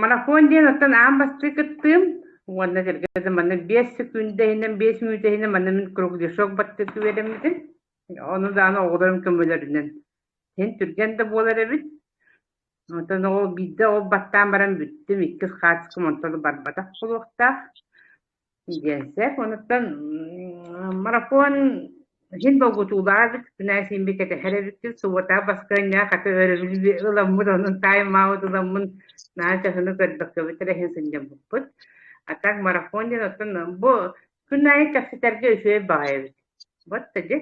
Марафон диэн оттон аан бастыы кыттыым уонна сэргэ манна биэс күндэ иһинэн биэс мүнүүтэ иһинэн манна мин кругляшок баттык үөрэммитим. Ону даҕаны оҕолорум көмөлөрүнэн син түргэн да буолар эбит. Оттон ол биирдэ ол баттаан баран бүттүм, иккис хаачыкым онтон барбатах буолуохтаах. Дьиэсэк, онуттан марафон син долгутуулаах эбит, күнээ симби кэтэһэр эбиккин, субуота баскыанньа хата өрөбүлү ыламмыт, онун тайм-аут ыламмын наа чаһыны көрбөккөбүт эрэ иһин сынньаммыппыт. А так марафон диэн оттон бу күн аайы кэпсэтэргэ үчүгэй баҕайы эбит. Вот та дьэ.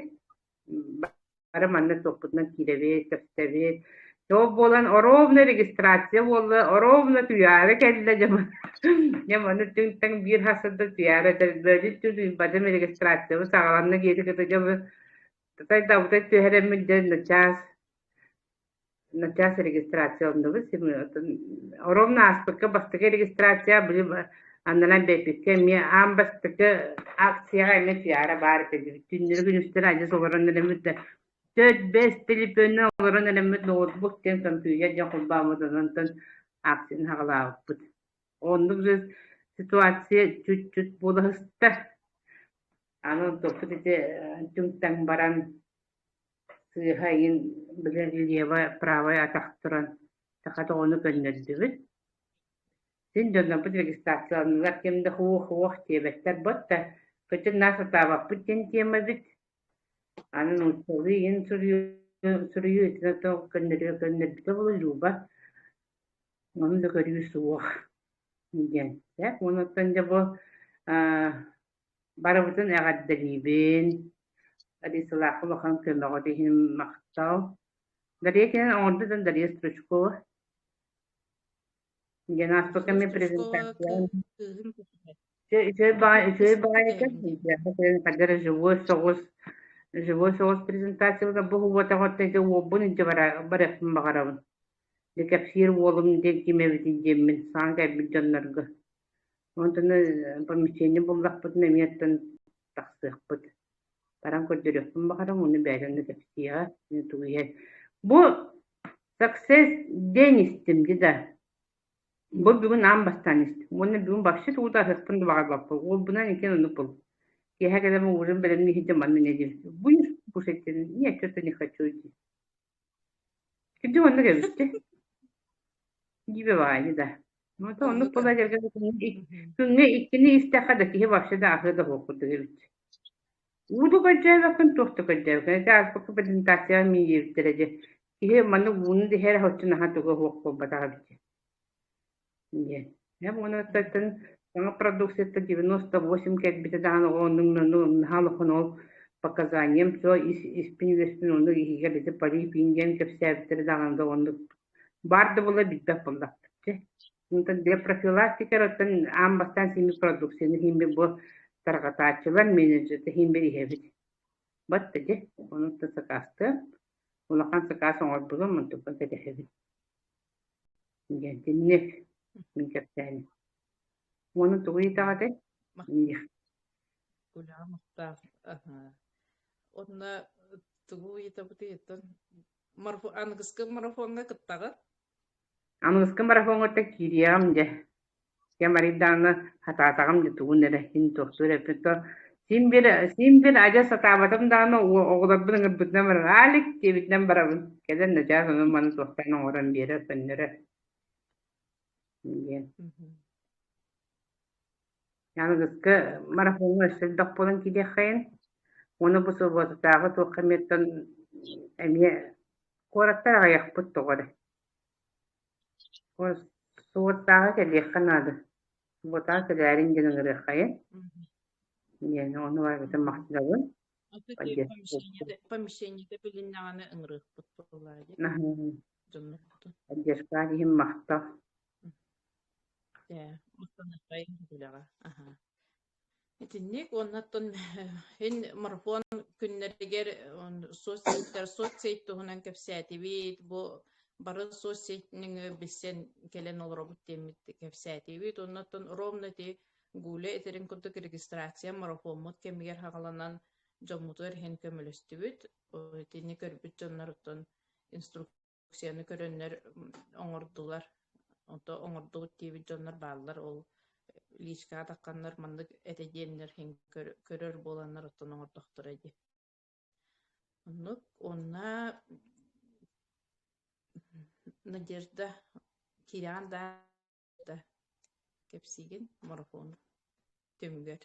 бары манна туохпутунан киирэбит, кэпсэбит. Топ буолан оровна регистрация буолла, оровна түйаары кэллэ дьомо. Дьэ ону түҥ-таҥ биир хасырда түйаары этэрдөөдүн түн бадым регистрациябы саҕаланна киэти кыта дьомо. Татай дабытай түһэрэммит дэн начаас начаас регистрация оннубут сим ором ааспыкка бастакы регистрация били аннынан бэппиккэ эмиэ аан бастакы акцияҕа эмиэ пиара баар этэ түннүрү күнүстэн адьас олорон эрэммит да төрт бэс телефоны олорон эрэммит ноутбук диэн компьютер дьон холбооммут онон акцияны хаҕалаабыппыт оннук ситуация чуть-чуть буолаһыста аны топпут ити түҥ-таҥ баран Сыыһа иһин били лево правое атах туран саха доҕону көннөрдүбүт. Син дьоннорбут регистрацияланнылар ким да хуох-хуох диэбэттэр бот да кычын наа сатаабаппыт диэн тиэмэбит. Аны нууччалыы иһин суруйуу суруйуу итинэн тоҕо көннөрүө көннөрбүтэ булуллууба. Ону да көрүү суох диэн. Дьэ, онуттан дьэ бу аа Барыбытын эҕэрдэлиибин. Алисалаахха улахан көмөҕө иһин махтал. Дарья кинен оҥордо да Дарья Стручкова. диэн ааспыкка мен презентация үчүгэй баҕа үчүгэй баҕа этэ живой соҕус живой соҕус презентациябыта бу уотаҕыттан ити уолбун илдьэ барыахпын баҕарабын кэпсиир уолум диэн ким эбитин диэммин саҥа кэлбит дьоннорго Онтуну помещение буллахпытына эмиэ тахсыахпыт. Баран көрдөрүөхпүн баҕарам, ону бэйэлэрine кэпсиэҕэ. Тугу иһэн. Бу success диэн истим дии да. Бу бүгүн аан бастаан истим. Уонна бүгүн вообще тугу да аһыахпын да баҕарбаппын. Уолбунан иккин ону бул. Киэһэ кэлэн ууран бэлэмниһи дьэ манна неделька. Будешь кушать? Нет, что-то не хочу идти. Кирдик оннук эбикки. Дибиваани да. Мото оннук тула жерге күҥҥэ иккини истэххэ да киһи вообще да ахы да буоппуту эбит. Ууду көрдөөбөккүн туохта көрдөөбөккүн. Эти ааспыкка презентация мин диэбиттэрэ дьэ. Киһи маннык ууну диһэр һоччу наһаа туга хуох буолбатах эбит. диэн. Эм уонаттан саҥа продукцията девяносто восемь кэлбитэ даҕаны оннуҥнаны умнаһа олохун ол показанием со ис испин үөспүн ону иһигэ бити парипин диэн кэпсээбиттэрэ даҕаны да оннук баар да була билбэх буоллахтар дьэ Онтон диапрофилактика оттон аан бастаан сими продукцияны химби бу тарҕатааччылар менеджердэ химбир иһэбит. Батта дьэ, онуттан сакаастыам, улахан сакаас оҥорбулум, онтукан кэтэһэбин. Дьэддинҥэ, мин кэпсээн уону тугу ыйытаҕа этэй? диэх Куляа Мухтаах аһа уонна тугу ыйытабытыйыттан марафон аныгыскы марафоҥҥа кыттаҕыт? Аныгыскы марафоҥҥа киириэҕим дьэ кэм арыйдаана сатаатаҕым дии тугун эрэ син туохтуур эппит то син бир син бир адьас сатаабатым даҕаны оҕолорбун ыҥырбытынан баран Алик диэбитинэн барабын кэлэн начаас онон маны туохтан оҥорон биэрэр көннөрө диэн аныгыскы марафоҥҥа өссө элбэх буолан киириэххэйин уону бу субуотатааҕы туохха эмиэттэн эмиэ куораттар аҕыйахпыт тоҕо эрэ Суоттааҕы кэлиэххэ наада, суботаҕа кэлээриҥ диэн ыҥырыаххайа диэни ону эбэтин махтанабын помещениета билиннэҕинэ ыҥырыахпыт буолаайы поддержкаан иһин махтал Итинник уонна оттон мин марафон күннэригэр соцсеттэр соцсеть туһунан кэпсээтибит, бу бары соцсеттиҥи билсэн кэлэн олоробут диэммит кэпсээтибит. Уонна оттон ровно ити Гуля этэрин курдук регистрация марафоммут кэмигэр хаҕаланан дьоммутугар иһэн көмөлөстүбүт. Итини көрбүт дьоннор оттон инструктор уксияны көрөннөр оҥордулар. Ото оҥордубут диэбит дьоннор бааллар ол личка атахханнар маннык этэ диэннэр иһин көрөр буоланнар оттон оҥордохторо дии. Оннук уонна Надежда кирэҕин да Кэпсиигин марафон түмүгэр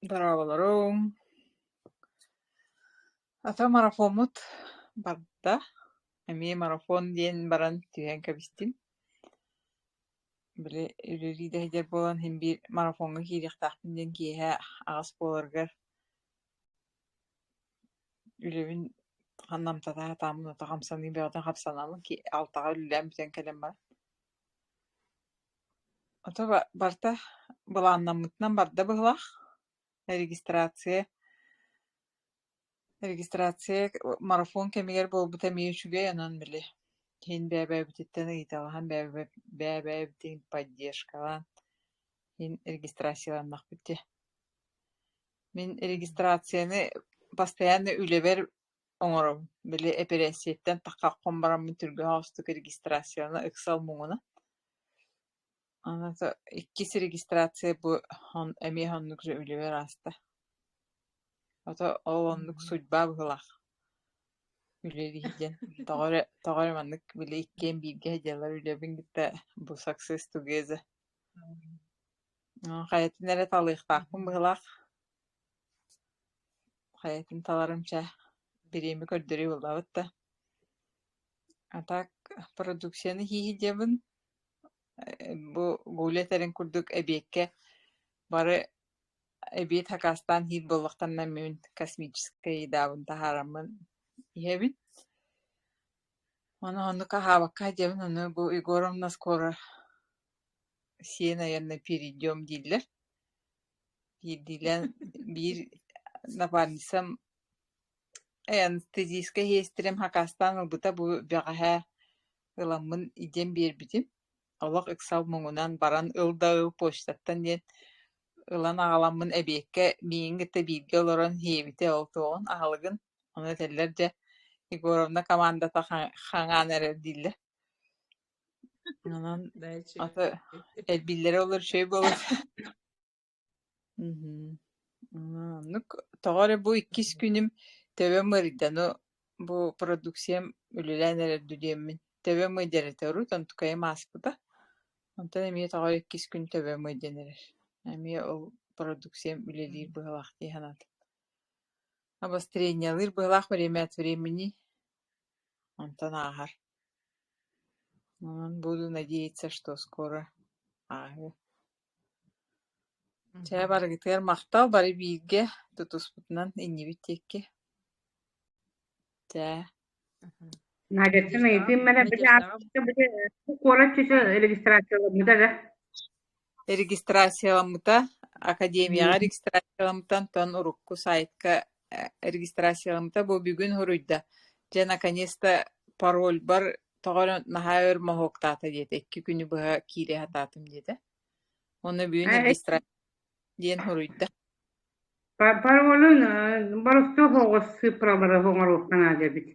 Дорооболоруҥ. Ата марафоммут барда. Эмиэ марафон диэн баран түһэн кэбистим. Били үлэлии да иһдэр буолан иһин биир марафоҥҥа киириэхтээхпин диэн киэһэ аҕыс буоларыгар Үлэбин ханна амтанан атааммын ото хамсаныы бөҕөтүн хапсаналым алтаҕа үлэлээн бүтэн кэлэн баран ото барыта былааннаммытынан барда быһыылаах регистрация регистрация марафон кэмигэр буолбута эмиэ үчүгэй онон били иһин бэйэ-бэйэбититтэн ыйыталаһан бэйэ-бэйэбитин поддержкалаан иһин регистрацияланнахпыт дии Мин регистрацияны постоянно үлэбэр оҥором. Били эпэрээссийэттэн таххаххын бараммын түргэһоостук регистрацияны ыксал муҥуна. Ата иккис регистрация бу эмиэ оннук же үлэбэр ааста. Ата ол оннук судьба быһыылаах. Үлэ диһиден тоҕо эрэ тоҕо эрэ маннык били иккиэн бииргэ дьыалар үлэбин кытта бу success together Э, хайатын эрэ талыахтаахпын быһылаах. Хайатын таларым чэ, бириэмэ көрдөрүү буолбабыт да. А так продукцияны хииһи диэбин. Э, бу Гуля этэрин курдук эбиэккэ бары эбиэт хакаастаан иһиир буоллахтарына мин космическай едаабын таһаараммын иһэбин. Ону оннук аһаабакка диэбин, ону бу Егоровна скоро сиэн айанна перейдем дииллэр биирдиилээн биир напарницам анестезийскай иһиэстэрим хакаастаан ылбыта бу бэҕэһээ ыламмын идиэн биэрбитим олох ыксал муҥунан баран ыл да ыл почтаттан диэн ылан аҕаламмын эбиэккэ миигин кытта бииргэ олорон иһэбитэ ол туоҕун аһылыгын ону этэллэр дьэ егоровна командата хаҥаан эрэр дииллэр Нанан дээчи Ата элбиллэрэ олор үчүгэй буолар Мгм. А, ну, тоҕо эрэ бу иккис күнүм төбөм ыарыйда, ну, бу продукциям үлэлээн эрэрдүү диэммин. Төбөм ыйдар этэ, урут онтукайым ааспыта. Онтон эмиэ тоҕо иккис күн төбөм ыйдан эрэр. Эмиэ ол продукциям үлэлиир быһыылаах дии санаатым. Обострениялыыр быһыылаах время от времени. Онтон ааһар. буду надеяться что скоро ааһыа чэ барыгытыгар махтал бары бииргэ тутуспутунан иннибит диэки чэ надежда били регистрацияларбыта эрэ Регистрацияламмыта академияҕа регистрацияламмыта, онтон урукку саайтка регистрацияламмыта, бу бүгүн хоруйда: «Дьэ, наконец-то парольбар тоҕо эрэ наһаа өр моһуоктаата» диэтэ, икки күнү быһа киирэ сатаатым диэтэ. Уонна бүгүн регистрация диэн хоруйда. Паролун барыта оҕоссыыпалары оҥоруохха наада эбит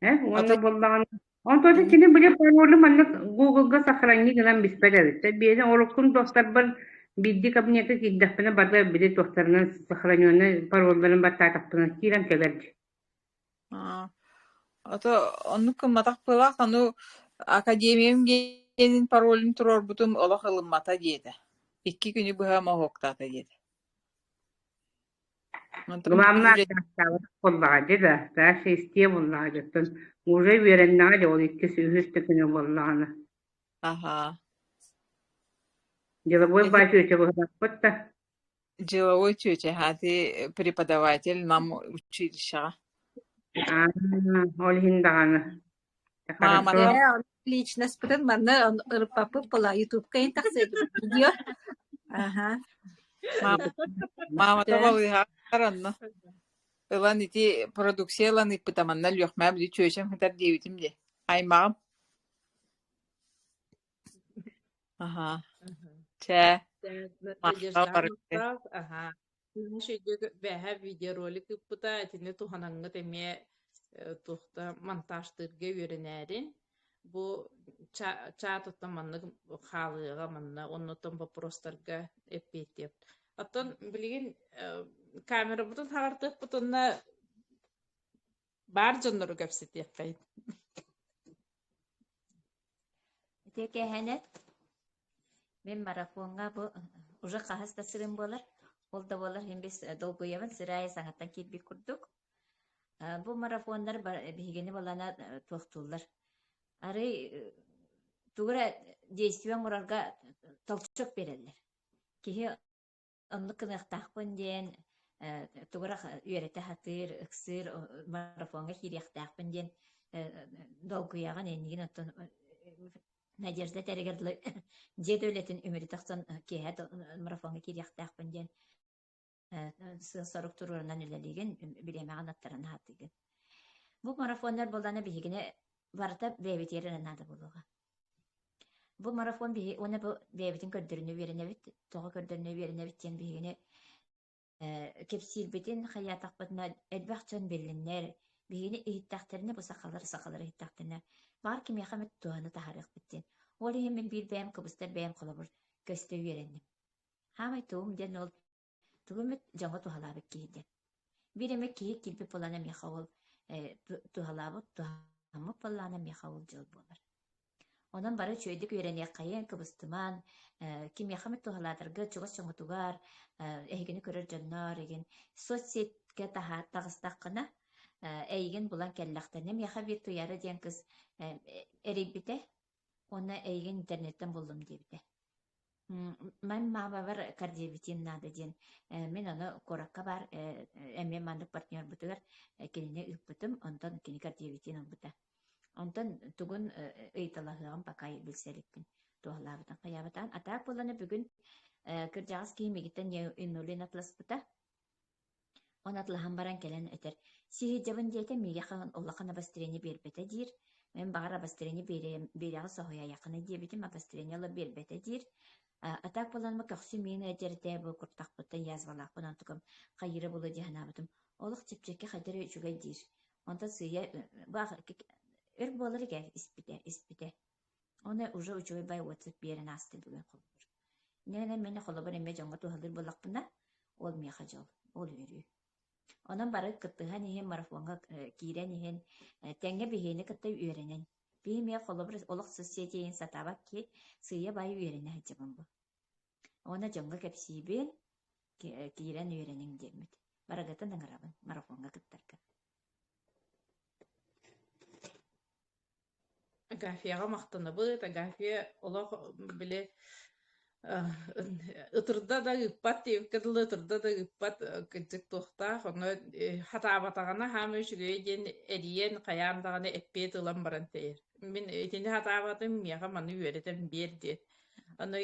Э, уонна Ата буоллаҕына, онтон кини били паролу манна Google-га сохранни гынан биспэт эбит. Биэни уруккун достарбар биирдии кабинетка киирдэхпинэ бары били туохтарынан сохраненный паролларын баттаатахпына киирэн кэлэр. Аа, ото оннук кымматах пылах anu академиям диэнин паролун туруорбутум олох ылыммата диэтэ. Икки күнү быһа моһуоктаата диэтэ. Главное, дьааттаабыт буоллаҕа дьэ да, таас эстиэ буоллаҕа дьоттон уже үөрэннэҕэ дьэ ол иккис үһүс да күнэ буоллаҕына. Аһаа. Деловой бачоча быһбаппыт да. Деловой чүөчэ хааты преподаватель нам училищеҕа. Ол иһин даҕаны Мааманы Э, личностпытын манна он- ырыппаппыт була ютубка ин тахсыбыт видео Ага. Сыйдык- маамата Бүттэ. балыыһаатар онно ылан ити продукция ылан ыппыта манна лүөхмаа били чүөчэм хытар диэбитим дии аймаҕым аха чэ Надежда Марта барыта. Мустаф, ага. Муус өйдө бэһа видеоролик ыппыта, итини туһанаҥҥыт эмиэ э, туох да монтажтыырга үөрэнээри. Бу ча- чаат оттон маннык хаалыаҕа манна, оннуттан боппуруостарга эппиэттиэх. Оттон билигин э, камерабытын хаартыахпытынна баар дьоннору кэпсэтиэххит Ити кэһэнет мен марафоҥҥа бу уже хаһыс да сырым болар ол да болар мен бис долгуйабын сырайы саҥаттан киирбит курдук бу марафоннар биһигини балана туохтууллар арый тугура действиен мурарга толчок береллер киһи оннук гыныахтаахпын диэн тугурах үөрэтэ сатыыр, ыксыыр, марафоҥҥа киириэхтээхпин диэн долгуйаҕын иннигин оттон Надежда тэригэр дьиэ үлэтин үмүрү тахсан киэһэ марафоҥҥа киириэхтээхпин диэн сыал-сорук туруорунан үлэлиигин, бириэмэҕин аттаран аһатыыгын. Бу марафоннар буоллаана биһигини барыта бэйэбитигэр наада буолуоҕа. Бу марафон биһи уонна бу бэйэбитин көрдөрүнэ үөрэнэбит, тоҕо көрдөрүнэ үөрэнэбит диэн биһигини э, кэпсиирбитин, хайаатахпытына элбэх дьон биллиннэр, биһигини иһиттэхтэринэ, бу сахалар, сахалар иһиттэхтэринэ, баҕар кимиэхэ эмит туһаны таһаарыахпыт диэн. Ол иһин мин биир бэйэм, кыбыстар бэйэм холобур көстө үөрэнним. Хаамай туум диэн ол тугу эмит дьоҥҥо туһалаабыт киһи диэн. Биир эмэ киһи киирбит былаана миэхэ ол э, туһалаабыт туһаммыт былаана миэхэ ол дьыл буолар. Онон бары үчүгэйдик үөрэниэххэйиэн, кыбыстымаан, э, ким миэхэ эмит туһалаатарга чугас дьоҥҥутугар, э, эһигини көрөр дьонноор, игин соцсетьке таһаа таҕыстаххына, э, эйигин булан кэллэхтэнэ миэхэ биир туйаара диэн кыс э, эрийбитэ Уонна эйигин интернеттан буллум диэбитэ. Ман маабабар кардиобитием наада диэн э, мин ону куоракка баар э, эмиэ маннык партнербытыгар э, кинини ыыппытым, онтон кини кардиобитиин ылбыта. Онтон тугун ыйыталаһыаҕым пока билсэ иликпин туоһалаабытын хайаабатаан. А так буоллана бүгүн кырдьаҕас киһи мигиттэн инсулин атласпыта. Ону атылаһан баран кэлэн этэр, «Сиһилдьэбин» диэтэ, миигин улахан обострение биэрбэтэ диир. Мин баҕар обострение биэриэм, биэриэҕи соһуйайаххыный диэбитим, обострение ыла биэрбэтэ диир. А так буолан көхсү миин эдьэртээ бу куртахпыттан язвалаахпын онтукум хайыра булу дии санаабытым. Олох чэпчэки хайдары үчүгэй диир. Онтон сыыйа бу өр буолар игэ испитэ испитэ Ону уже учугайбай уотсут биэрэн ааста бүгэн холбуур. Инэнэн мин холобур эмиэ дьоҥҥо туһалыыр буоллахпына, ол миэхэ дьол, ол үөрүү. Онон бары кыттыһан иһин, марафоҥҥа э, киирэн иһин, э, тэҥҥэ биһиэни кытта үөрэнэн. Биһи эмиэ холобур олох социэтийин сатаабат киһи сыыйа-баайы үөрэнэ сылдьабын бу. Уонна дьоҥҥо кэпсиибин, э, киирэн үөрэниҥ диэммит. Барыгытын ыҥырабын марафоҥҥа кыттарга. Агафияҕа махтанабыт. Агафия олох били ытырда да ыыппат диэбиккэ дылы ытырда да ыыппат кырдьык туохтаах. Ону сатаабатаҕына хаамыы үчүгэйэ диэн эрийэн хайаан даҕаны эппиэт ылан баран тэйэр. Мин итини сатаабатым, миэхэ маны үөрэтэн биэр диэн. Аны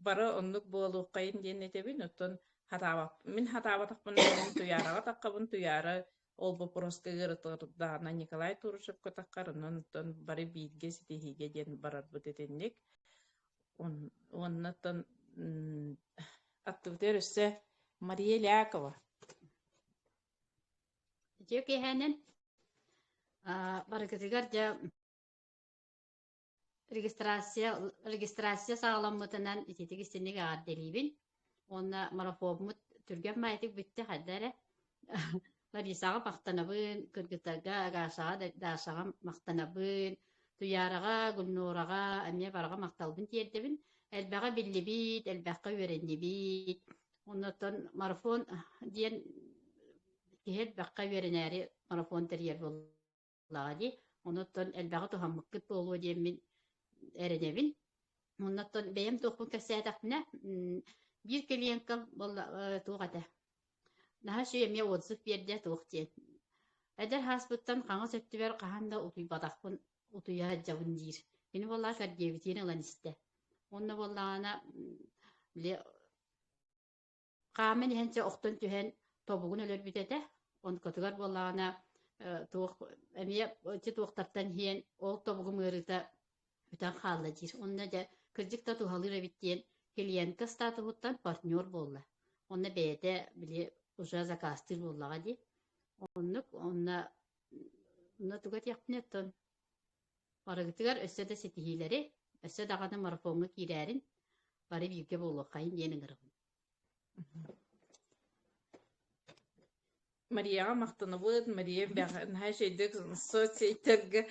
бары оннук буолуоххайын диэн этэбин, оттон сатаабат мин сатаабатахпына мин туйаараҕа атаххабын, туйаара Ол боппуруоска ыарытылардаана Николай Турушевка таххар, онон бары бииргэ ситиһиигэ диэн барарбыт итинник. Оннаттан актыбытыгар өссө Мария Лякова. Үтүө киэһэнэн барыгытыгар дьэ регистрация регистрация саҕаламмытынан ититик истинник эҕэрдэлиибин уонна марафоммут түргэн маайтик бүттэ хайда эрэ Ларисаҕа махтанабын, Кыргытага, Агашаҕа, Дашаҕа махтанабын, Туяраҕа, Гульнораҕа эмиэ бараҕа махталбын тиэрдэбин. Элбэҕи биллибит, элбэххэ үөрэннибит. Оннуттан марафон диэн киһи элбэххэ үөрэнээри марафон тэрийэр буолла. буоллаҕа дии. Онуттан элбэҕи туһаммыккыт буолуо диэммин эрэнэбин. Оннуттан бэйэм туохпун кэпсээтэхпинэ, биир клиенткам буолла туох этэ. Наһаа үчүгэй эмиэ отзыв биэрдэ туох диэн. Эдэр хааспыттан хаҥас өттүгэр хаһан да утуйбатахпын утуйа сылдьабын диир. Кини буоллаҕа Сергеевитиин ылан истэ. Онно буоллаҕына хааман иһэн чэ охтон түһэн тобугун өлөрбүт этэ онкотугар буоллаҕына туох эмиэ ычча туохтартан иһиэн ол тобугум ыарыыта бүтэн хаалла диир онно дьэ кырдьык да туһалыыр эбит диэн клиентка статуһуттан партнер буолла онно бэйэтэ били уже закастыыр буоллаҕа дии оннук онно онно туга диэхпинэ оттон Барыгытыгар өссө да ситиһиилэри, өссө даҕаны марафоҥҥа киирээрин, бары бииргэ буолуоххайын диэн ыҥырабын. Марияҕа махтанабыт. Мария наһаа эчэйдик соцсеттэргэ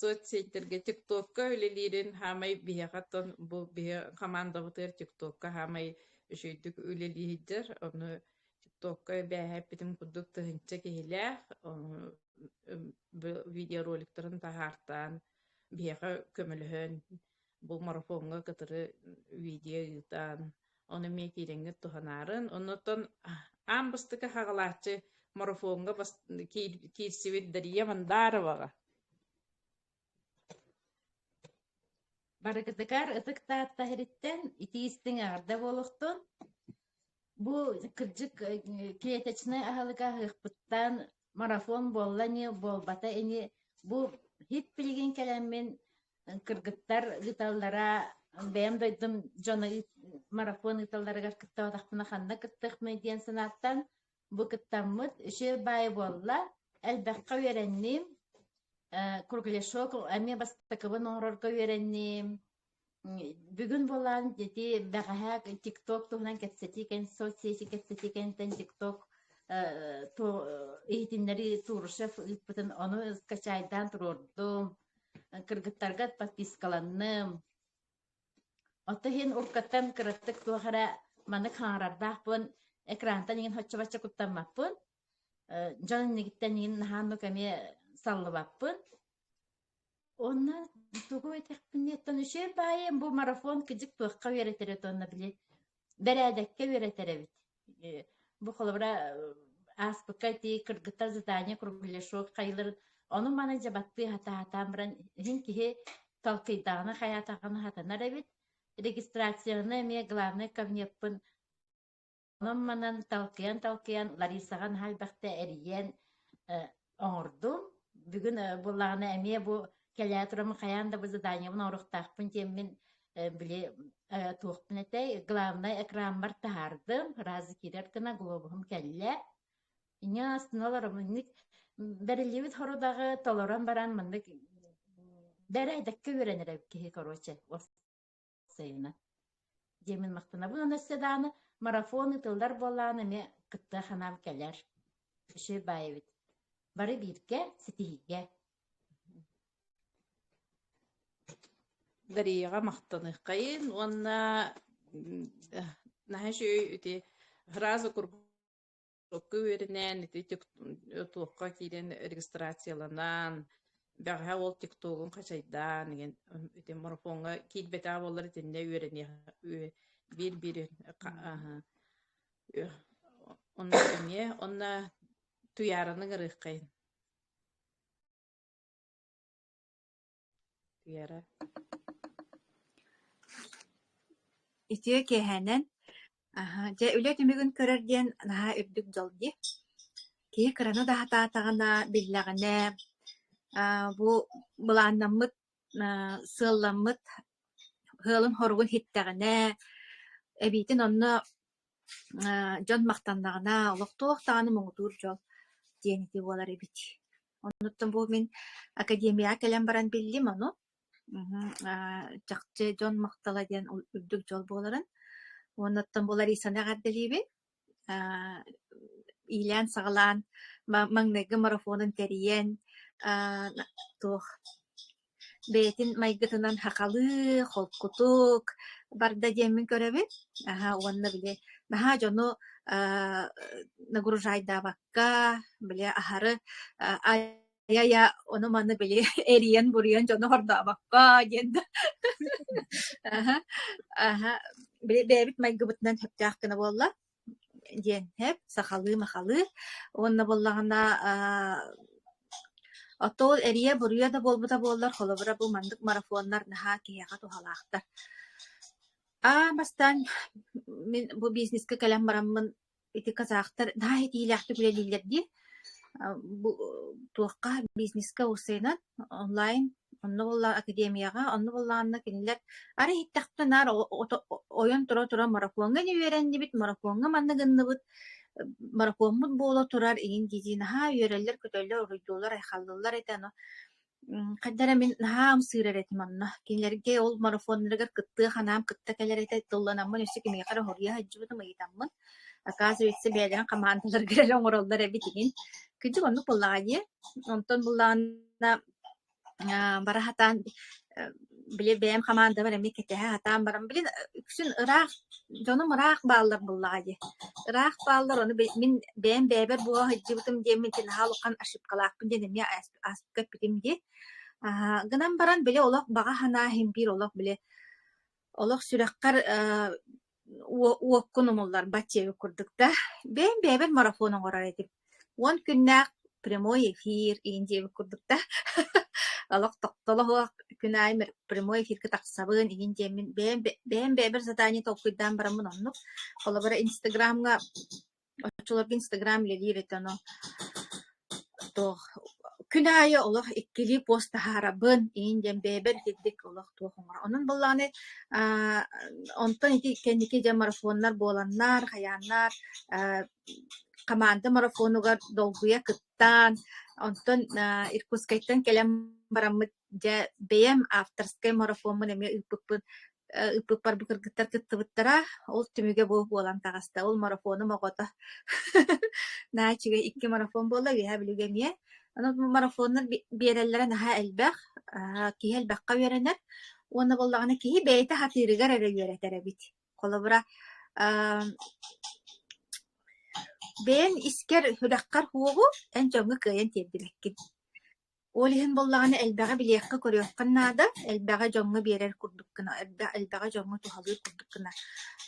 соцсеттэргэ тиктокка үлэлиирин хаамай биһиэхэ тон бу биһи хамаандабытыгар тиктокка хаамай үчэйдик үлэлиһиддер. Ону ТикТокка эбээһэппитим курдук тыһыынча киһилээх видеороликтарын таһаартаан биһиэхэ көмөлөһөн бу марафоҥҥа кытары видео ыытаан ону эмиэ киириҥҥит туһанаарын оннуттан аан бастакы хаҕалааччы марафоҥҥа киирсибит Дария Мандароваҕа Барыкытыкаар ытык Таатта иһэриттэн ити-истиҥ эҕэрдэ буолуохтун. Бу кырдьык клеточнай аһылык аһыахпыттан марафон буолла ини, буолбата ини. Бу хит билигин кэлэммин кыргыттар ыыталлара бэйэм дойдум дьоно марафон ыыталларыгар кыттыбатахпына ханна кыттыахмый диэн санааттан бу кыттаммыт үчүгэй баайы буолла элбэххэ үөрэнним кругляшок эмиэ бастакыбын оҥорорго үөрэнним бүгүн буолаан ити бэҕэһээ тикток туһунан кэпсэтии соцсети кэпсэтии кэнниттэн тикток иһитиннэрии турушев ыыппытын ону скачайдаан туруордум кыргыттарга подпискаланным Оттон иһин уруккаттан кыраттык туох эрэ маннык хаҥарардаахпын, экрантан иҥин хоччу-бачча куттаммаппын, дьон иннигиттэн иҥин наһаа оннук эмиэ саллыбаппын. Уонна тугу этэхпин диэттэн, үчүгэй баайым, бу марафон кидьик туохха үөрэтэр эт уонна били бэрээдэккэ үөрэтэр эбит бу холобура ааспыкка ити кыргыттар задание кругляшок хайылар ону маны дьабаттыы хатаатаан баран иһин киһи толкуйдаҕына хайаатаҕына хатанар эбит регистрацияны эмиэ главный кабинеппын онон манан толкуйан толкуйан Ларисаҕа наһаа элбэхтэ эрийэн оҥордум. Бүгүн буоллаҕына эмиэ бу кэлээ турам хайаан да бу заданиябын оҥоруохтаахпын диэммин били туохпун этэй главнай экрааммар таһаардым раз киирэр гына глобуһум кэллэ иньэ астына олором инник бэриллибит хорудаҕы толорон баран маннык бэрээдэккэ үөрэнэрэ киһи короче сайына. Диэмин махтанабын өссе дааны марафон ыытыллар буоллаан эмиэ кыттыа ханаал кэлэр. Кіши баайбыт. Бары бииргэ ситиһиигэ. Дарияға мақтаныққайын уонна наһа үти разу курб Туохка үөрэнэн, ити туохха киирэн регистрацияланан, бэҕэһээ ол тиктогун хачайдаан, ити марафоҥҥа киирбэтаа буоллар итиннэ үөрэниэх биир-биир онно эмиэ онно туйаараны ыҥырыаххайын Үтүө киэһэнэн дьэ үлэ түмүгүн көрөр диэн наһаа үрдүк дьол дии. Киһи кыраны да сатаатаҕына биллэҕинэ бу былааннаммыт сыалламмыт сыалын-соругун ситтэҕинэ эбиитин онно Ээ, дьон махтаннаҕына олохтоох даҕаны муҥутуур дьол диэн ити буолар эбит. Оннуттан бу мин академияҕа кэлэн баран биллим ону. Мм, аа, чахчы дьон махтала диэн үрдүк дьол буоларын. Оннуттан бу Ларисаны эҕэрдэлиибин. Аа, иилээн-саҕалаан ма маҥнайгы марафонун тэрийэн, аа, туох бэйэтин майгытынан хахалыы, холкутук барда диэммин көрөбүн. Аһа, уонна били наһаа дьону аа нагружайдаабакка, били аһары а ай-ай-а ону-маны били эрийэн-буруйан дьону хордообокко диэн да аһа, аһа били бэйэбит майгыбытынан сөптөөх гына буолла. диэн эп сахалыы-махалыы уонна буоллаҕына оттоо эрийэ буруйа да буолбута буоллар холобура бу маннык марафоннар наһаа киһиэхэ туһалаахтар аа бастаан мин бу бизнескэ кэлэн бараммын ити казахтар наһаа итиилээхтик үлэлииллэр дии бу туохха бизнескэ усыйынан онлайн онно буоллаҕа академияҕа онно буоллаҕына кинилэр арай истэхтэ наар ойон тура тура маракуоҥҥа не үөрэннибит маракуоҥҥа манна гынныбыт маракуоммут буола турар иһин дии наһаа үөрэллэр көтөллөр уруйдуулар айхаллыллар этэ ано хайда эрэ мин наһаа ымсыырар этим онно кинилэргэ ол марафоннарыгар кыттыа ханаам кытта кэлэр этэ тылланаммын өссө киниэхэ эрэ хоруйа сылдьыбытым ыйытаммын Акаас вице бэйэлэрин хамаандаларга эрэ оҥороллор эбит игин. Күдьүк оннук буллаҕа дии. Онтон буллаҕына бара хатаан били бэйэм хамаандабар эмиэ кэтэһэ хатаан баран билин үксүн ыраах дьонум ыраах бааллар буллаҕа дии. Ыраах бааллар ону мин бэйэм бэйэбэр була сылдьыбытым диэн мин наһаа улахан ошибкалаахпын диэн эмиэ ааспыкка эппитим дии. Гынан баран били олох баҕа санаа иһин биир олох били олох сүрэххэр уоккун умулларбат диэби курдук да, бэйэм бэйэбин марафон оҥорор этим. Уон күннээх прямой эфир иин диэбит курдук да, олох тохтолоһуох күн аайы прямой эфиргэ тахсабын иһин диэммин бэйэм бэйэм бэйэбэр задание толкуйдаан бараммын оннук. Холобура Инстаграмҥа Оччолорго Инстаграм үлэлиир этэ ону то күн аайы олох иккилии пост таһаарабын, иин диэн бэйэбэр итинник олох туох оҥорор. Онон буоллаҕына аа онтон ити кэнники дьэ марафоннар буоланнар, хайааннар аа хамаанда марафонугар долгуйа кыттаан, онтон аа Иркутскайтан кэлэн бараммыт дьэ бэйэм авторскай марафоммун эмиэ ыыппыппын ыппыппарбы кыргыттар кыттыбыттара, ол түмүгэ бу буолан таҕыста. Ол марафоным оҕото наачыгай икки марафон буолла, үөһэ бүлүүгэ эмиэ. Онон марафоннар биэрэллэрэ наһаа элбэх, киһи элбэххэ үөрэнэр уонна буоллаҕына киһи бэйэтэ сатыырыгар эрэ үөрэтэр эбит. Холобура, бэйэн искэр, хүрэххэр уоҕу эн дьоҥҥо кыайан тиэрдибэккин. Ол иһин буоллаҕына элбэҕи билиэххэ-көрүөххэ наада, элбэҕи дьоҥҥо биэрэр курдук гына, элбэ элбэҕи дьоҥҥо туһалыыр курдук гына.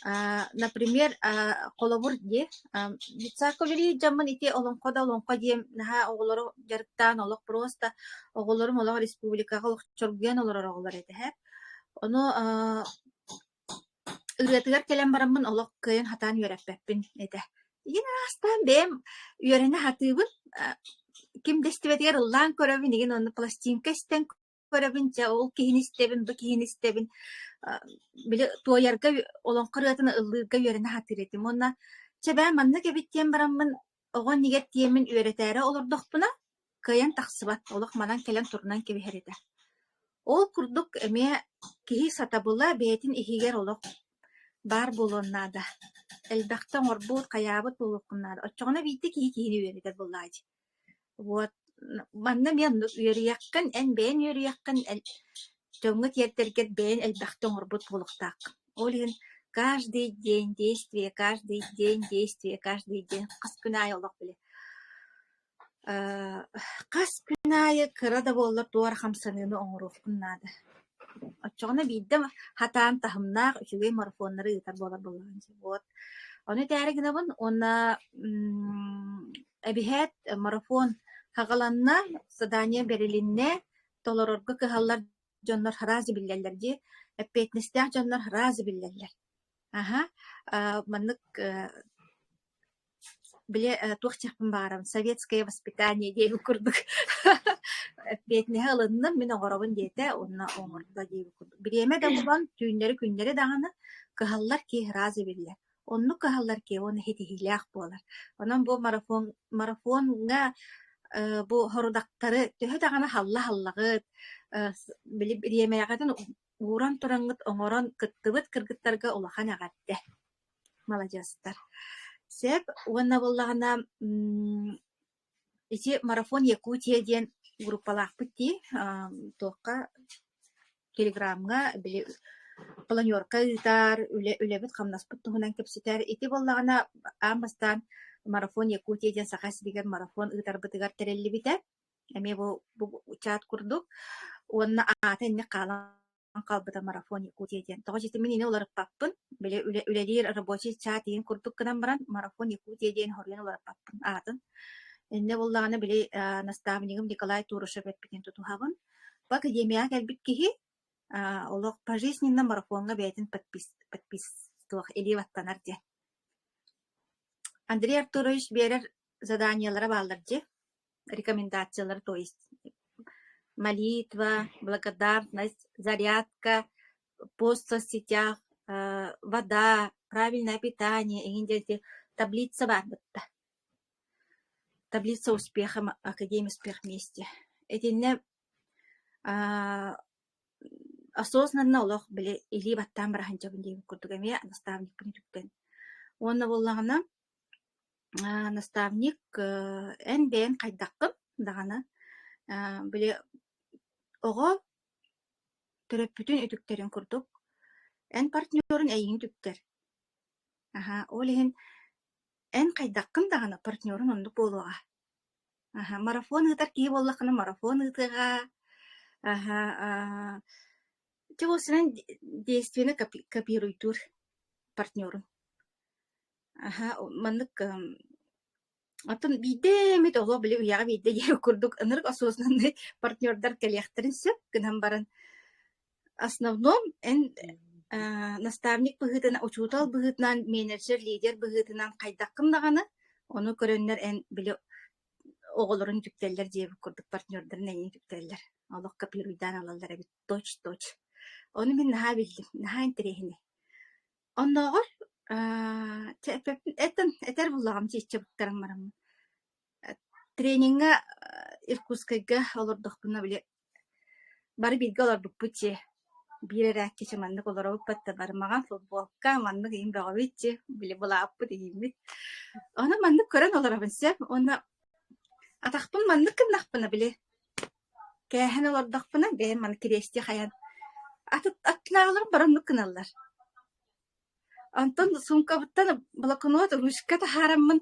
Аа, например, аа, холобур дии, аа, детсадка үлэлиир дьоммун ити олоҥхо да олоҥхо диэн наһаа оҕолору дьарыктаан олох просто оҕолорум олох республикаҕа олох чоргуйан олорор оҕолор этэ. Ону аа, Ырыатыгар кэлэн бараммын олох кыайан сатаан үөрэппэппин этэ. Ийин аастаан бэйэм үөрэнэ сатыыбын, э, ким да истибэтигэр ыллаан көрөбүн, игин онно пластинка истэн көрөбүн, дьэ ол киһини истэбин, бу киһини истэбин. Э, били туойарга, олоҥхо ырыатын ыллыырга үөрэнэ сатыыр этим. Уонна чэ бээ маннык эбит диэн бараммын Оҕо иннигэр тиэмин үөрэтээри олордохпуна, кыайан тахсыбат, олох манан кэлэн турунан кэбиһэр этэ. Ол курдук эмиэ киһи сатабыла бэйэтин иһигэр олох баар буолуон наада. Элбэхтэ оҥорбут, хайаабыт буолуоххун наада. Оччоҕуна биирдэ киһи киһини үөрэтэр буоллаҕа дии. Вот манна мен үөрүйэххин эн бэйэн үөрүйэххин эн дьоҥҥо тиэрдэргэр бэйэн элбэхтэ оҥорбут буолуохтаах. Ол иһин каждый день действие, каждый день действие, каждый день хас күн аайы олох били э хас күн аайы кыра да буоллар туора хамсаныыны оҥоруохпун наада. Оччоҕуна биирдэ хатаан таһымнаах үчүгэй марафоннары ыытар буолар буолуон сөп. Вот. Ону этээри гынабын уонна м, эбиһээт марафон хаҕаланна, задание бэрилиннэ, толорорго кыһаллар дьоннор араас да биллэллэр дии, эппиэтинэстээх дьоннор араас да биллэллэр. Аха, а, маннык э, Били туох дьахпын баарым советское воспитание диэбит курдук эппиэтинэһи ылынным, мин оҥоробун диэтэ уонна оҥордо диэбит курдук. Бириэмэ да булан түүннэри-күннэри даҕаны кыһаллар киэһэ ыраазы эбиллэр. Оннук кыһаллар киэһэ уонна ситиһиилээх буолар. Онон бу марафон марафоҥҥа э, бу сорудахтары төһө даҕаны халла-халлаҕыт, э, били бириэмэҕитин ууран тураҥҥыт, оҥорон кыттыбыт кыргыттарга улахан эҕэрдэ. Маладьыастар! Сэп уонна буоллаҕына м ити марафон Якутия диэн группалаахпыт дии, аа туохха телеграмҥа били планерка ыытар, үлэ үлэбит-хамнаспыт туһунан кэпсэтэр. Ити буоллаҕына аан бастаан марафон Якутия диэн Саха сиригэр марафон ыытарбытыгар тэриллибитэ. Эмиэ бу бу чаат курдук. Уонна аата инник хаалан хаалбыта марафон Якутия диэн. Тоҕо дии мин ини уларыппаппын. Били үлэ, үлэлиир рабочий чаат иһин курдук гынан баран марафон Якутия диэн хоруйан уларыппаппын аатын. Иннэ буоллаҕына били э, наставнигым Николай Турушев эппитин тутуһабын. В академияҕа кэлбит киһи э, олох пожизненно марафоҥҥа бэйэтин подпис, подписуох илии ваттанар диэн. Андрей Артурович биэрэр заданиелара бааллар дьи. рекомендациялар, то есть молитва, благодарность, зарядка, пост в соцсетях, вода, правильное питание, эҥин диэки таблица баар бытта. Таблица успеха, академия успех вместе. Этинне осознанно олох били илии баттаан брахан жабын диэн курдук эмиэ наставникпын түктэн. Уонна боллагана Аа, наставник, э, эн бэйэҥ хайдаххын даҕаны, э, били оҕо төрөппүтүн үтүктэрин курдук, эн партнерун эйигин үтүктэр. Аһа, ол иһин эн хайдаххын даҕаны партнерун оннук буолуоҕа. Аһа, марафон ыытар киһи буоллаххына марафон ыытыаҕа. Аһа, аа Ити кусунан действиены копи копируйтуур партнёрум. Аһа, маннык кыһым оттон биирдэ эмит олох били үйэҕэ биирдэ диэри курдук ынырык осознаннай партнёрдар кэлиэхтэрин сөп гынан баран, основном эн аа наставник быһыытынан, учуутал быһыытынан, менеджер, лидер быһыытынан хайдаххын даҕаны, ону көрөннөр эн били оҕолорун үтүктэллэр диэбит курдук партнёрдарын эйиэн үтүктэллэр. Олох копируйдаан ылаллар эбит. Точ-точ. Ону мин наһаа биллим, наһаа интэриэһинэй. Оннооҕор аа чэ эппиппин этэн этэр буоллаҕым чииччэ буттараҥмараммын. Э, трениҥҥэ э, Иркутскайга олордохпуна били бары бииргэ олорбуппут дьиэ. Биир эрээкки чэ маннык олоробуппут да бары маҥан футболка, маннык иһин бөҕөбүт дьиэ, били былааппыт иһиммит. Ону маннык көрөн олоробун сөп уонна атахпын маннык гыннахпына били Кээһэн олордохпуна бэйэм аны Кириэсти хайан ат- аттылааҕыларын бар оннук гыналлар. Онтон суумкабыттан блокнот ручка таһаараммын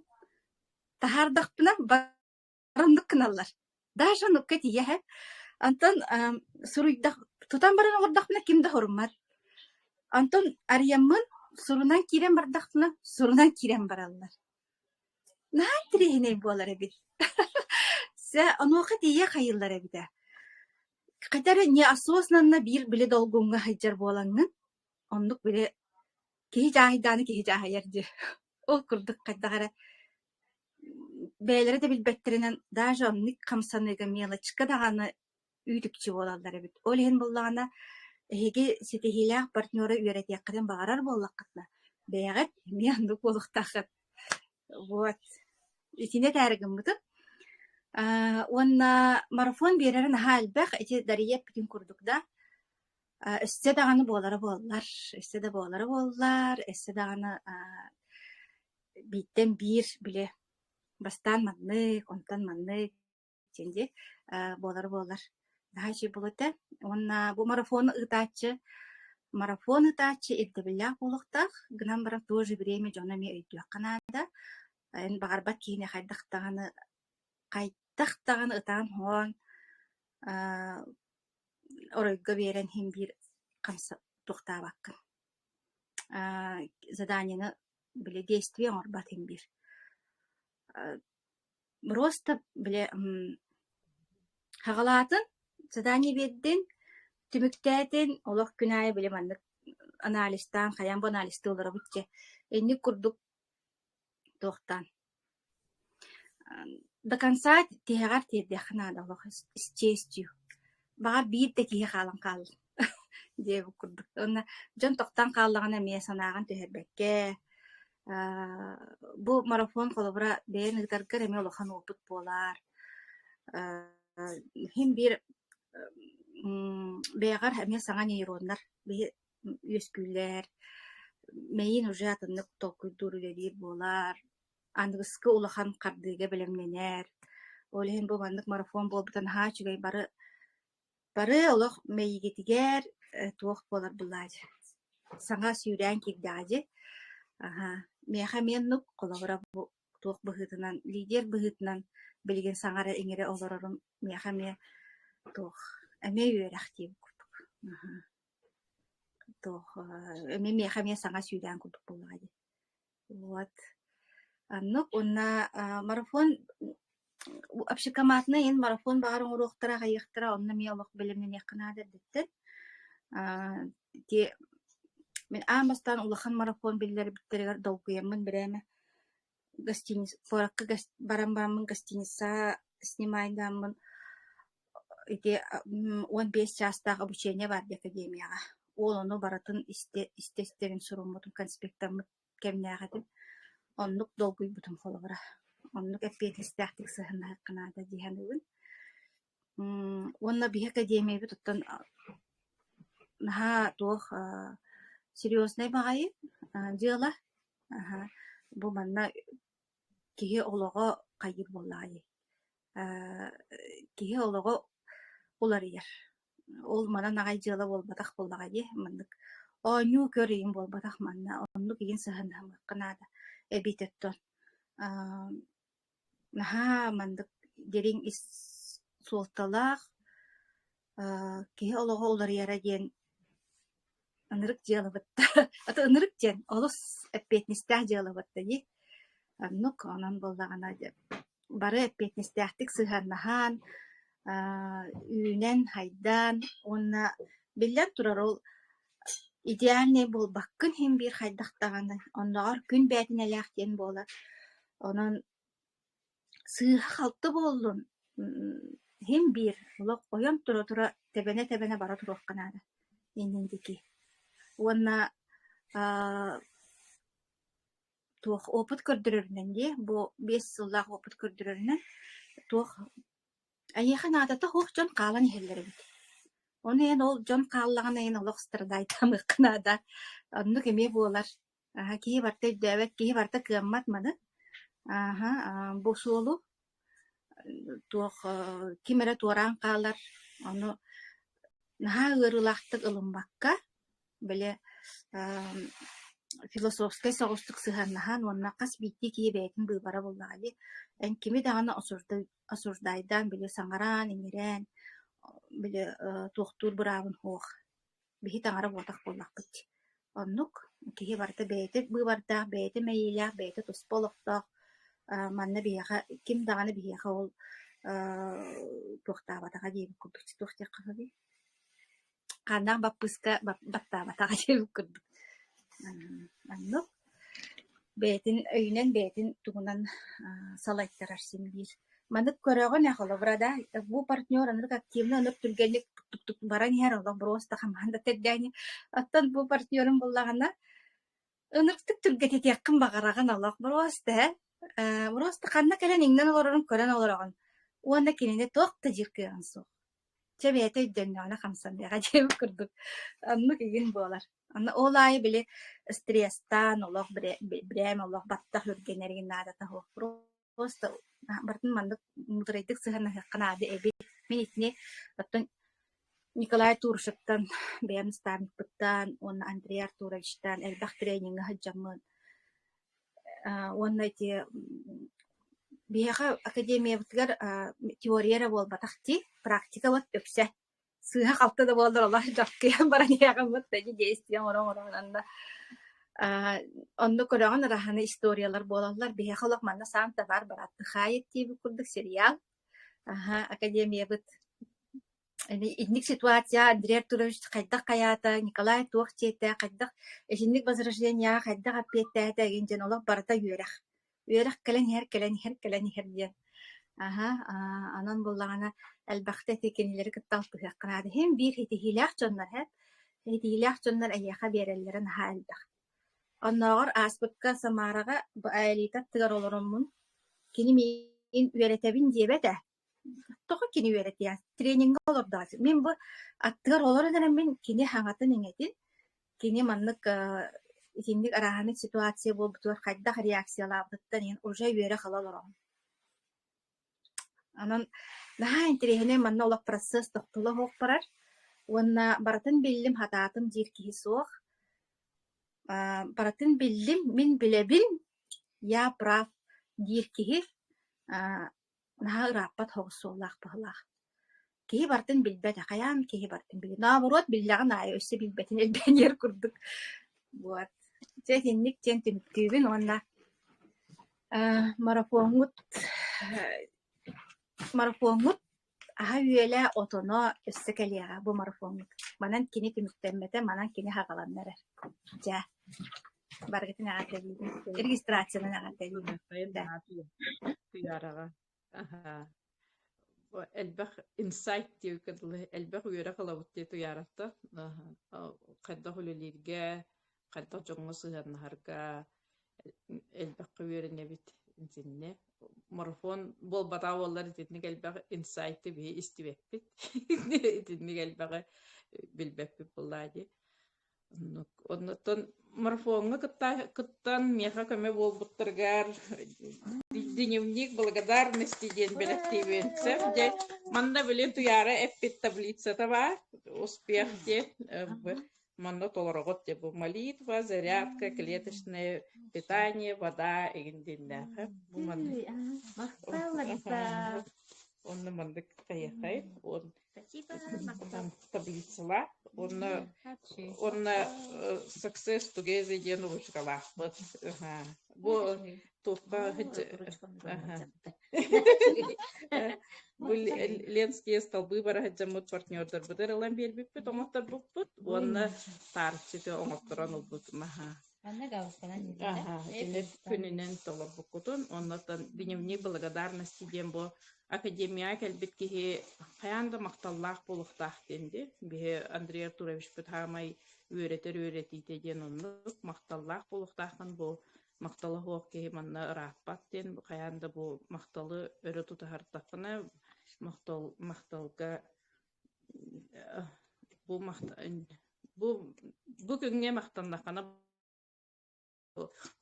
таһаардахпына бар оннук гыналлар. Дааша оннукка тиийэ иһэ. Онтон эм суруйдах тутан баран олордохпуна ким да хоруммат. Онтон арыйаммын сурунан киирэн бардахпына сурунан киирэн бараллар. Наһаа интириэһинэй буолар эбит. Сэ онуоха тиийэ хайыллар эбитэ. Хотя эрэ не осознанно биир били долгуҥҥа сылдьар буолаҥҥын, оннук били киһи дьааһайдааны киһи дьааһайар дии. Ол курдук хайдах эрэ бэйэлэрэ да билбэттэринэн даже оннук хамсаныыга мелочка даҕаны үүтүкчү буолаллар эбит. Ол иһин буллаҕына эһиги ситиһиилээх партнера үөрэтиэххитин баҕарар буоллаххытына, бэйэҕит эмиэ оннук буолуохтааххыт. Вот. Итини этээри гыммытым. Аа, уонна марафон биэрэрэ наһаа элбэх. Ити дарыйа эппитин курдук да, а, өссө даҕаны буолара буоллар, өссө да буолара буоллар, өссө даҕаны аа, бииртэн биир били бастаан маннык, онтон маннык синди буолар буолар наһачи булута уонна бу марафону ыытааччы марафон ыытааччы ирдэбиллээх буолуохтаах гынан баран в то же время дьоно эмиэ өйдүөххэ наада эн баҕарбат киһини хайдах даҕаны хайдах даҕаны ытаан хоон оройго биэрэн иһин биир хамса туохтаабаккын заданиены били действие оҥорбот иһин биир Быросса, били хаҕалаатын, задание биэрдин, түмүктээтин, олох күн аайы били маннык анализтаан, хайаан бу анализтыы олоробут дьэ, инник курдук туохтаан. До конца тиһэҕэр тиэрдиэххэ наада олох исчестью баҕар биир да киһи хаалан хаалла диэбит курдук. Уонна дьон тохтон хааллаҕына эмиэ санааҕын түһэрбэккэ, аа, бу марафон холобура бэйэн ыытаргар эмиэ улахан уопут буолаар, аа, иһин биир м, бэйэҕэр эмиэ саҥа нейроннар биһи үөскүүлэр, мэйиин уже атыннык толкуйдуур, үлэлиир буолаар, аныгыскы улахан хардыыга бэлэмнэнэр. Ол иһин бу маннык марафон буолбута наһаа үчүгэй. Бары бары олох мэйигитигэр э, туох буолар булаай саҥа сүүрээн киирдэҕэ дьи. Аһа, миэхэ миэннук, холобура бу туох быһыытынан, лидер быһыытынан билигин саҥара-иҥэрэ олорорум миэхэ эмиэ туох эмиэ үөрэх диэн курдук. Аһа. Туох э, эмиэ миэхэ эмиэ саҥа сүүрээн курдук буолаҕа дии. Вот. Оннук уонна э, марафон общекоматный ин марафон баҕар оҥоруохтара аҕайыахтара онно эмиэ олох бэлэмнэниэххэ наада эрдэттэн те мин аан бастаан улахан марафон биллэрбиттэригэр долгуйаммын бирээме гостиница куоракка баран бараммын гостиница снимайдааммын ити уон биэс чаастаах обучение баардыы академияҕа. Уол ону барытын истэ-истэ-истэбин суруммутум, конспектаммыт кэмнээх этим. Оннук долгуйбутум холобура. Оннук эппиэтинстээхтик сыһыннаһыахха наада дии саныыбын. Уонна биһи академиябыт оттон наһаа туох серьезнай баҕайы дьыала. Бу манна Киһи олоҕо хайыыр буоллаҕай? Э, киһи олоҕо уларыйар. Ол манан аҕай дьыала буолбатах буоллаҕа дии маннык. Оонньуу көр-иҥ буолбатах манна. Оннук иһин сыһыаннаһымыахха наада эбиитин оттон. Ааа наһаа маннык дириҥ ис суолталаах Э, киһи олоҕу уларыйара диэн ынырык дьыалабыт аты ынырык диэн олус эппиэтинэстээх дьыалабыт да дии. Оннук онон буоллаҕына бары эппиэтинэстээхтик сыһыаннаһан, э, үүнэн, хайдаан уонна биллэн турар ол идеальнай буолбаккын иһин биир хайдах даҕаны оннооҕор күн бээтинэлээх диэн буолар. Онон Сыыһа-халты буоллун, иһин биэр, олох ойон тура-тура, тэбэнэ-тэбэнэ бара туруохха наада иннин диэки. Уонна аа туох опыт көрдөрөрүнэн диэ, бу биэс сыллаах опыт көрдөрөрүнэн туох эйиэхэ наадата суох дьон хаалан иһэллэр эбит. Ону эн ол дьон хааллаҕына эн олох страдайтаамыахха наада, оннук эмиэ буолар. Аһа киһи барыта өйдөөбөт, киһи барыта кыаммат маны. Ааһа, аа бу суолу туох аа ким эрэ туораан хаалар, ону наһаа ыарыылаахтык ылыммакка, били аа философскай соҕустук сыһыаннаһан уонна хас биирдии киһи бэйэтин быыбара буоллаҕа дии. Эн кими даҕаны осуждай осуждайдаан, били саҥараан, иҥэрээн, били ээ туохтуур быраабын суох. Биһи таҥара буотах буоллахпыт дии. Оннук киһи барыта бэйэтин быыбардаах, бэйэтин мэйиилээх, бэйэтэ туспа олохтоох. Э, манна биһиэхэ ким даҕаны биһиэхэ ол э, туохтаабатаҕа диэбит курдук. Туох диэххэ сөбүй? Хааннаах баппыыска бап- баттаабатаҕа диэбит курдук. М, Оннук. бэйэтин өйүнэн бэйэтин тугунан салайтарар син биир маннык көрөҕүн ээ холобура да бу партнер аны активно ынык түргэнник баран иһэр олобуруос да хамахан да тэрдээни оттон бу партнерун буллаҕына ынырыктык түргэтитиэххин баҕараҕын олохбуруос да э буруос да ханна кэлэн иҥнэн олорорун көрөн олороҕун уонна кинини туох да диир кыаҕыҥ суох Чэ бэйэтэ өйдөннөҕүнэ хамсан биэҕэ диэбит курдук, оннук игин буолар. Онно ол аайы били стресстаан олох бирэ брэм олох баттах үргэнэр игин наадата суох. Просто барытын маннык мударайдык сыһыаннаһыахха наада эбит. Мин итини оттон Николай Туршевтан бэйэм наставникпыттан уонна Андрей Артуровичтаан элбэх трениҥҥэ сылдьаммын уонна ити биһиэхэ академиябытыгар теория эрэ буолбатах дии практикабыт үксэ сыыһа-халты да буоллар олох дьоkkыйан баран иһиэҕиммит да ити действия оҥоро-оҥороонон да онно көрөҕүн араһаны историялар буолаллар биһиэхэ олох манна саан табаар барааттык хаайыт диибит курдук сериал аха академиябыт Итинник ситуация Андрея Артурович хайдах хайаата, Николай туох дьиэтэ, хайдах итинник возрождениеҕа хайдах эппиэттээтэ эгин диэн олох барыта үөрэх. Үөрэх кэлэн иһэр, кэлэн иһэр, кэлэн иһэр диэн. Аһа, аа, онон буоллаҕына элбэхтэ ити кинилэри кытта алтыһыахха наада. Иһин биир ситиһиилээх дьоннор эһэт, ситиһиилээх дьоннор эйиэхэ биэрэллэрэ наһаа элбэх. Оннооҕор ааспыкка Самараҕа Аэлита аттыгар олороммун, кини миин үөрэтэбин диэбэтэ. Тоҕо кини үөрэтиэ? Трениҥҥэ олордоҕуйа. Мин бу аттыгар олорон эрэн мин кини хаҥатын-иҥэтин, кини маннык э, итинник арааһынай ситуация буолбутугар хайдах реакциялаабытыттан иһин уже үөрэ-хала олороҕун. Онон наһаа интэриэһинэй манна олох процесс тохтоло оһох барар уонна барытын биллим, хатаатым диир киһи суох. Э, барытын биллим, мин билэбин, я прав диир киһи э, Наһаа ырааппат соҕус суоллаах-баһылаах. Киһи барытын билбэтэ, хайаан киһи барытын билиэ? Нообуруот биллэҕин аайы өссө билбэтин элбэниэр курдук. Вот. Дьэ итинник диэн түмүктүүбүн уонна э, марафоҥҥут марафоҥҥут аһа-үөлэ, отоно өссө кэлиэҕэ бу марафоҥҥут. Манан кини түмүктэммэтэ, манан кини хагаланна эрэр. Дьэ. баргытын эҕэрдэлиибин регистрацияны эҕэрдэлиибин тыараҕа элбэх инсайт диэ элбэх үөрэх ылабыт дии туйаарата хайдах үлэлииргэ хайдах дьоҥҥо сыһыаннаһарга элбэххэ үөрэнэбит итиннэ марафон буолбатаа буоллар итинник элбэх инсайты биһи истибэппит итинник элбэҕи билбэппит буоллаа дии Оннуттан марафоҥҥа кыттан миэхэ көмө буолбуттаргар дневник благодарности диэн бэлэхтиибин. Сef, дьэ, манна билин туйаара эппит таблицата бар. Успех диэн манна толороҕут дьэ бу молитва, зарядка, клеточное питание, вода игиндиннээхэ. Бу манна. Махталларса. Онно маннык тайахай. Он там таблицалаах уонна уонна success together диэн ручкалаахпыт бу туохха бу ленские столбы бара сылдьаммыт партнердарбыт ырылан биэрбиппит оҥотторбуппут уонна таарчыты оҥотторон ылбыт маһа күнүнэн толорбуккутун оннотон дневник благодарности диэн бу академияҕа кэлбит киһи хайаан да махталлаах буолуохтаах диэн дии биһи Андрей Артуровичпыт хаамай үөрэтэр үөрэтиитэ диэн оннук махталлаах буолуохтааххын бу махтала суох киһи манна ырааппат диэн хайаан да бу махталы өрө тутуһартаххына махтал махталга э, бу махта бу бу күҥҥэ махтаннаххына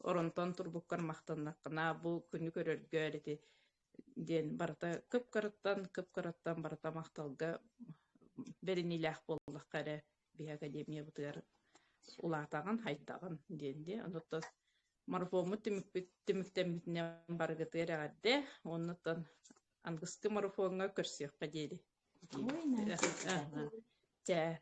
Оронтон турбуккар махтаннаххына, бу күнү көрөргөөр ити диэн барыта кып-кыраттан, кып-кыраттан барыта махталга бэриниилээх буоллахха эрэ биһи академиябытыгар улаатаҕын, хайдаҕын диэн дии. Онтон марафоммут түмүкпүт түмүктэммитинэн барыгытыгар эҕэрдэ. Оннуттан ангысты марафоҥҥа көрсүөххэ диэри. Чэ.